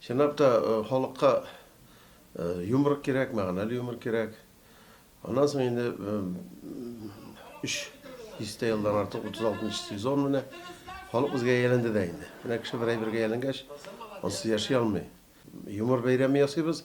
Чынлап та, халыкка юмор кирәк, мәгънәле юмор кирәк. Аннан соң инде өч дистә елдан артык, 36 нчы сезон менә, халык безгә әйләнде дә инде. Менә кеше бер әйбергә әйләнгәч, ансыз яши алмый. Юмор бәйрәме ясыйбыз.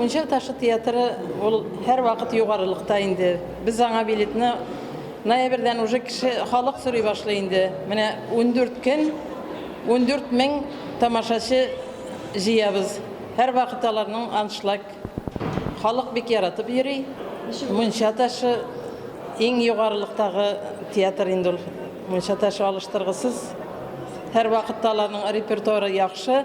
Мунча ташы театры ул һәрвакыт югарылыкта инде. Без аңа билетны ноябрьдән уже кеше, халык сорый башлый инде. Менә ундүрт көн, ундүрт мең тамашачы җыябыз. Һәрвакыт аларның аншлаг. Халык бик яратып йөри. Мунча ташы иң югарылыктагы театр инде ул. Мунча ташы алыштыргысыз. Һәрвакыт та аларның репертуары яхшы.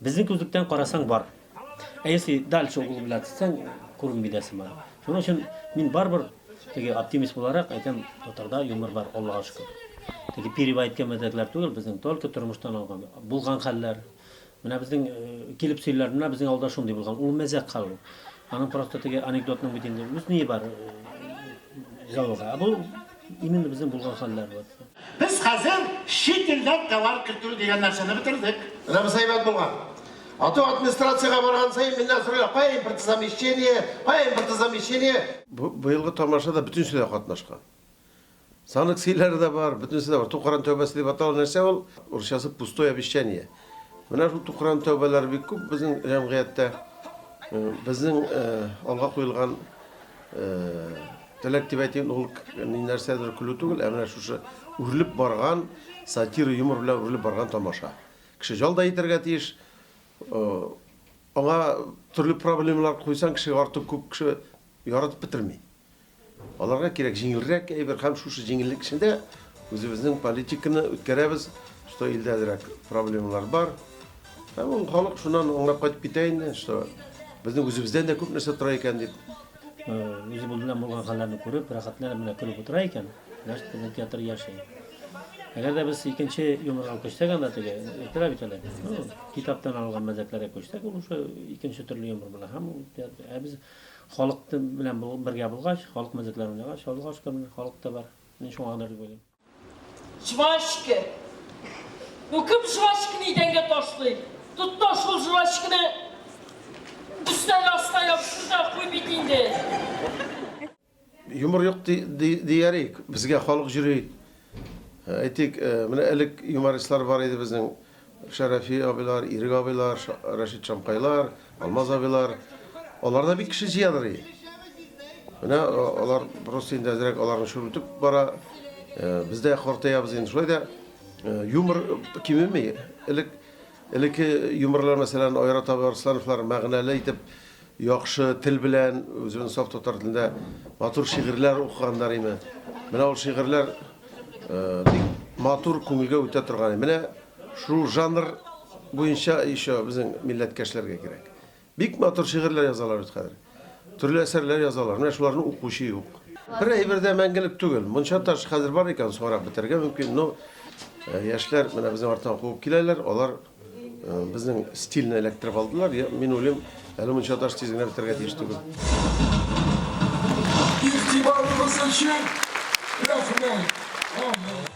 Безнең күзлектән карасаң бар. Ә если дальше углубляться итсәң, күренми дә сыман. Шуның өчен мин барыбер теге оптимист буларак әйтәм, татарда юмор бар, Аллага шөкер. Теге пирива әйткән мәзәкләр түгел, безнең только тормыштан алган, булган хәлләр. Менә безнең э, килеп сөйләр, менә безнең авылда шундый булган. Ул мәзәк хәл ул. Аның просто теге анекдотның бит инде үз ние бар. Э, Зәвыга. Ә бу Именно безнең булган хәлләр вот. Без хәзер чит илдән товар кертү дигән нәрсәне бетердек. Анабыз әйбәт булган. Ату администрациягә барган саен миннән сорыйлар, кая импортозамещение, кая импортозамещение. Бу быелгы тамашада бөтенесе дә катнашкан. Санкцияләр дә бар, бөтенесе дә бар. Тукаран тәүбәсе дип атала нәрсә ул? Урысчасы пустое обещание. Менә шул тукран тәүбәләр бик күп безнең җәмгыятьтә. Э, безнең э, алга куелган э, теләк дип әйтим, ул ни нәрсәдер көлү түгел, ә менә шушы үрелеп барган сатира юмор белән үрелеп барган тамаша. Кеше җалда итәргә тиеш. Аңа төрле проблемалар куйсаң, кеше артык күп кеше яратып бетерми. Аларга кирәк җиңелрәк әйбер һәм шушы җиңеллек эчендә үзебезнең политиканы үткәрәбез, что илдә әзрәк проблемалар бар. Һәм ул халык шуннан аңлап кайтып китә инде, что безнең үзебездән дә күп нәрсә тора икән дип. Үзе булдыдан булган хәлләрне күреп, рәхәтләнеп менә көлеп утыра икән, значит, безнең театр яши. Әгәр дә без икенче юморга күчсәк анда теге, әйтәләр бит әле, ну, китаптан алган мәзәкләргә күчсәк, ул уже икенче төрле юмор була. Һәм ул театр, ә без Халык белән бергә булгач, халык мәзәкләре уйнагач, Аллага шөкер, менә халык та бар. Мин шуңа гадер дип уйлыйм. Жвачка. Ну кем жвачканы идәнгә ташлый? Тот то шул жвачканы өстәл астына ябыштырып та куй бит инде. Юмор юк диярик, безгә халык җөри. Әйтик, менә элек юмористлар бар иде безнең, Шәрәфи абыйлар, Ирек абыйлар, Рәшит Шамкайлар, Алмаз абыйлар. Алар да бик кеше җыядыр. Менә алар просто инде әзрәк аларны шүрлетеп бара. Без дә картаябыз инде, шулай да юмор кимеми. Элек элеке юморлар мәсәлән Айрат абый Арслановлар мәгънәле итеп Яхшы тел белән, үзебезнең саф татар телендә матур шигырьләр укыганнар име. Менә ул шигырьләр бик матур, күңелгә үтә торган. Менә шул жанр буенча еще безнең милләткәшләргә кирәк. Бик матур шигырьләр язалар бит хәзер. Төрле әсәрләр язалар. Менә шуларны укучы юк. Бер әйбер дә мәңгелек түгел. Мунча таш хәзер бар икән, соңрак бетәргә мөмкин, но яшьләр менә безнең арттан куып киләләр, алар Безнең стильне эләктереп алдылар. Мин уйлыйм, әле мунча таш тиз генә бетергә тиеш түгел. Игътибарыгыз өчен рәхмәт.